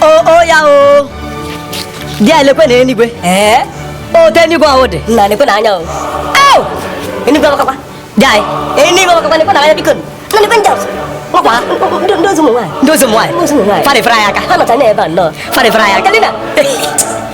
o ya o dịa lekwenụ enigwe ee otu enigwe ahụ dị na nekwe na anya o enigwe amakakwa dịanyị enigwe amakakwa nekwe na anya biko na nekwe ndị ọzọ ọkwa ndị ozi ụmụ nwaanyị ndị ozi ụmụ nwaanyị farịfara ya aka ha nọcha n'ebe a nnọọ farịfara ya aka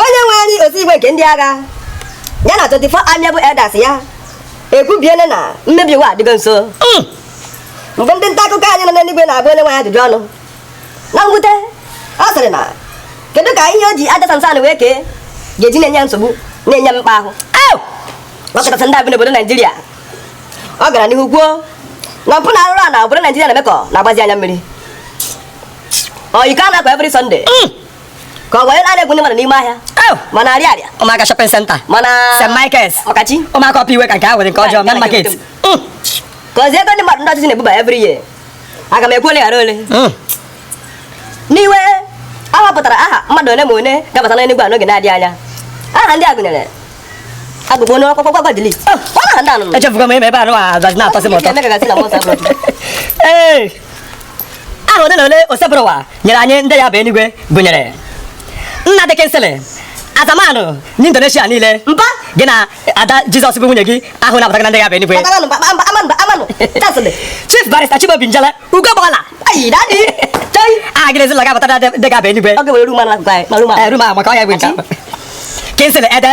onye nwe anyị otu igwe nke ndị agha ya na 24 amiable elders ya ekwubiele na mmebi ụwa adịgo nso hmm. mgbe ndị nta akụkọ anyị nọ n'eluigwe na-agba onye nwe anyị ajụjụ ọnụ na mwute ọ sịrị na kedu ka ihe o ji aja sansan wee kee ga-eji na-enye nsogbu na-enye mmekpa ahụ ọ kachasị ndị a bi n'obodo naijiria ọ gara n'ihu kwuo na mpụ na arụrụ ana obodo naijiria na-eme ka ọ na-agbazi anya mmiri ọyikọ a na-akọ every Sunday hmm. ka ọ wee na-egwu ndị mmadụ n'ime ahịa ma na Ariaria ụmụaka shopping center ma na St. Michael's ọ kacha ụmụaka Upper Iweka nke ahụ dị nke ọjọọ main market hmm. ka ozi ego ndị mmadụ ndị ọchịchị na-ebuba every year aga m ekwu ole ghara ole hmm. n'iwe a họpụtara aha mmadụ ole ma ole ga-abata n'enigwe a n'oge na-adịghị anya aha ndị a gụnyere agụgụ onye ọkpọkpọ gwagwa dili echefugo m ime ebe anụ a gazi na-atọsị m ụtọ aha ole na ole osebụrụwa nyere anyị ndị ya-aba enigwe gụnyere nnadi kingsley azamanụ n'indonesia niile mba gị na ada jizọs bụ nwunye gị aha ụnụ abatago na ndị ya-aba enigwe chief barrister chimaobi njele ugo gbala aha gị na ezinụlọ ga-abata na ndị ga-aba enigwe eh, maka ọ ya bụ nke kingsley ede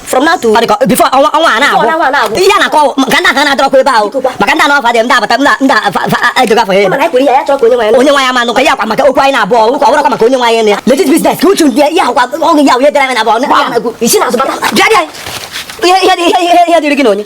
from now to before ọnwa ọnwa a na-agwụ ihe a na-akọ ka ndị ahụ na-adọrọkwa ebe ahụ maka ndị anọfa dị ndị abata ndị edoga afọ ya onye nwe anyị ama nụkwa ya akwa maka okwu anyị na-abụ ọgwụ kwa ọgwụrọkwa maka onye nwe anyị na ya legit business ka uchu ndị ya akwa ọgwụ ya wee dere anyị na abụọ ihe dịrị gị na onye